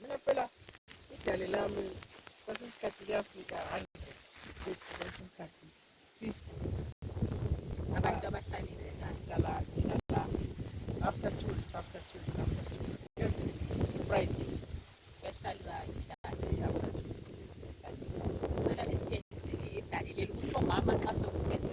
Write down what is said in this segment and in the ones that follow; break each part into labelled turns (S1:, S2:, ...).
S1: Mina phela idale lami kwesinye isikhathi liyafika hundred fifty kwesinye isikhathi fifty
S2: abantu abahlalile ngihlala ngihlala
S1: after two weeks after two weeks after two weeks every friday kuyahlala
S2: idale after two
S1: weeks kuyahlala idale.
S2: Ngicela lisithengisele idale leli ukuthi omama xa sokuthethe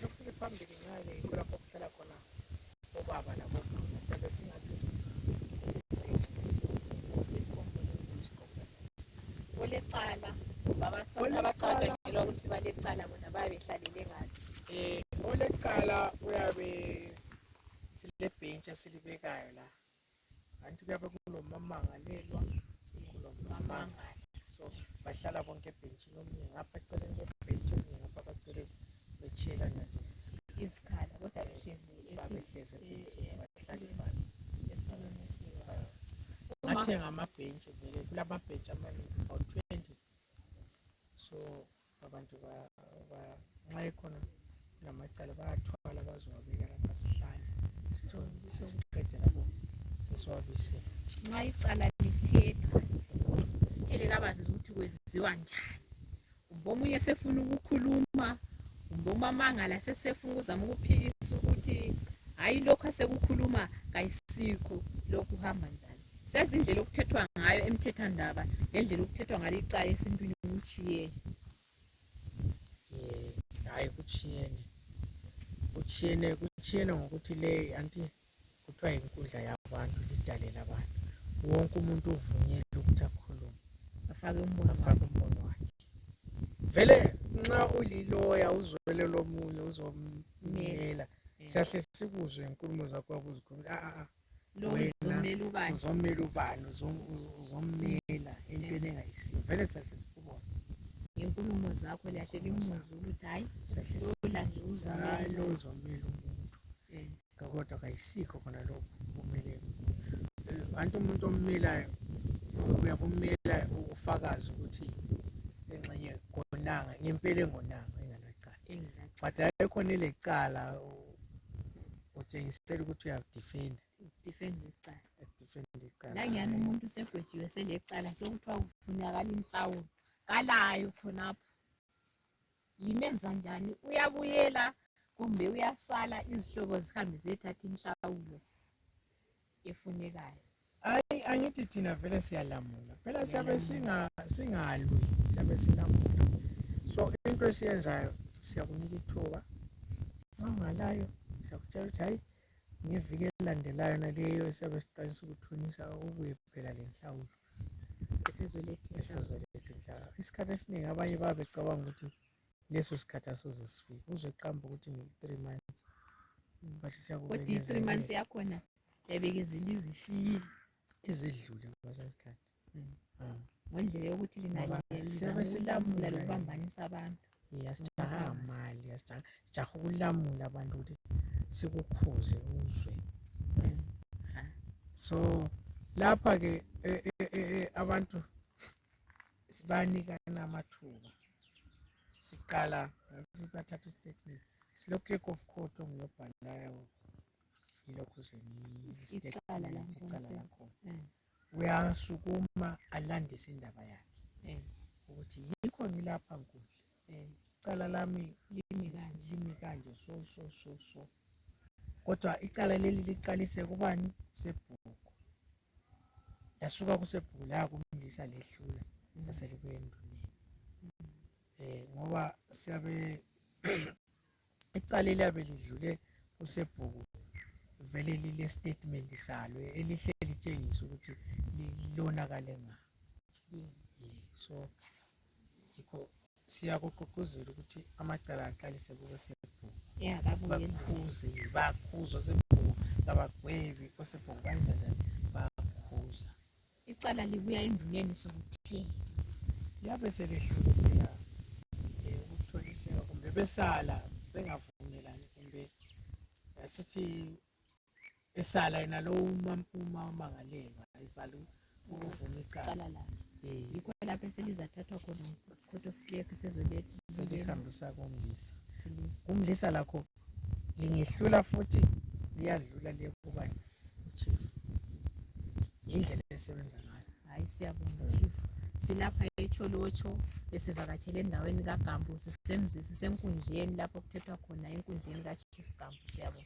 S1: Sokusele phambili ngale kulapho kuhlala khona obaba labomama siyabe singathi
S2: olecala abacatshangelwa ukuthi balecala bona bayabe behlalele ngani um eh, olecala
S1: uyabe silebhentshi esilibekayo la ngathi kuyabe kulomamangalelwa kulomamangali so bahlala bonke ebhentshini omunye ngapha eceleni kwebhentshi omunye ngapha bacele betshela nje isikhala
S2: kodwa behlezi behlezi bahlale
S1: phansi ngathi ngamabhentshi vele kulamabhentshi amanengi about twenty so abantu nxa ekhona lamacala bayathwala bazowabeka lapha sihlale sokuqede lapho sesiwabisele nxa
S2: icala lithethwa sitshele kabanzi ukuthi kwenziwa njani kumbe omunye sefuna ukukhuluma kumbe umamangala sesefuna ukuzama ukuphikisa ukuthi hayi lokhu asekukhuluma kayisikho lokhu hamba njani sazi indlela okuthethwa ngayo emthethandaba ngendlela okuthethwa ngalo icala esintwini kutshiyene
S1: hayi kutshiyene kutshiyene kutshiyene ngokuthi le anti kuthiwa yinkundla yabantu lidale labantu wonke umuntu uvunyelwe ukuthi akhulume afake umbono
S2: afake umbono wakhe
S1: vele nxa uliloya uzwele lomunye uzomnela siyahle sikuzwe inkulumo zakho wabuzikhulumela a a uzommela ubani uzommela ubani uzommela entweni engayisiyo vele sase sikubona ngenkulumo
S2: zakho liyahle limuzwe ukuthi hayi lola nje uzalo uzommela
S1: umuntu eh. kodwa kayisikho khona lokho kumele anti eh, umuntu ommelayo uyakummela ufakazi ukuthi engxenye konanga ngempela engonanga enganacala but ayikhona ilecala utshengisela ukuthi uyakudifenda ukudifenda icala ukudifenda icala langiyani umuntu
S2: usegwetshiwe selecala sekuthiwa kufunakala inhlawulo kalayo khonapho yimenza njani uyabuyela kumbe uyasala izihlobo zihambe ziyethatha inhlawulo efunekayo hayi
S1: angithi thina vele siyalamula phela siyabe singalwi siyabe silamula so into esiyenzayo siyakunika ithuba nxa ungalayo siyakutshela ukuthi hayi ngeviki elilandelayo naleyo esiyabe siqalisa ukuthunisa ubuye phela lenhlawulo isikhathi esiningi abanye baba becabanga ukuthi leso sikhathi asoze sifike uzoqamba ukuthi ngi-three months kodwa i-three
S2: months yakhona yabekezela izifile izidlule
S1: kweso sikhathi mm. ah.
S2: ngendlela yokuthi linaliyabe silamula lokubambanisa abantu yasijaha
S1: mali yasijaha ukulamula abantu ukuthi sikukhuze uzwe mm. ah. so lapha-ke e, e, e, abantu sibanikana amathuba siqala bathatha istatement silo clerk of court ongilobhalayo yilokhu
S2: icala lakho
S1: eh. uyasukuma alandise indaba yakhe eh. ukuthi yikho ngilapha nkundla eh. icala lami limi kanje limi kanje so so so so kodwa icala leli liqalise kubani sebhuku lasuka kusebhuku la kumlisa lehlula laselibuye enduneni eh ngoba siyabe icala eliyabe lidlule kusebhuku vele lile statement salo elihle litshengisa ukuthi lilonakale ngani so yikho siyakugqugquzela ukuthi amacala aqalise kubosebhuku bakhuze bakhuza osebhuku kabagwebi osebhuku banza njani bakhuza icala
S2: libuya enduneni sokuthi liyabe
S1: selehlulela eh, ukutholiseka kumbe besala bengavumelani kumbe asithi esala yena lo umamangalelwa esala ukuvuma icala eh. yikho
S2: lapho eselizathathwa khona court of clear sezolihambisa
S1: komlisa kumlisa lakho lingehlula futhi liyadlula liyekubani uchief yindlela esebenza ngayo hayi siyabonga
S2: chief silapha echolotsho besivakatshele endaweni kagambo sisenkundleni lapho kuthethwa khona enkundleni kachief gambo siyabonga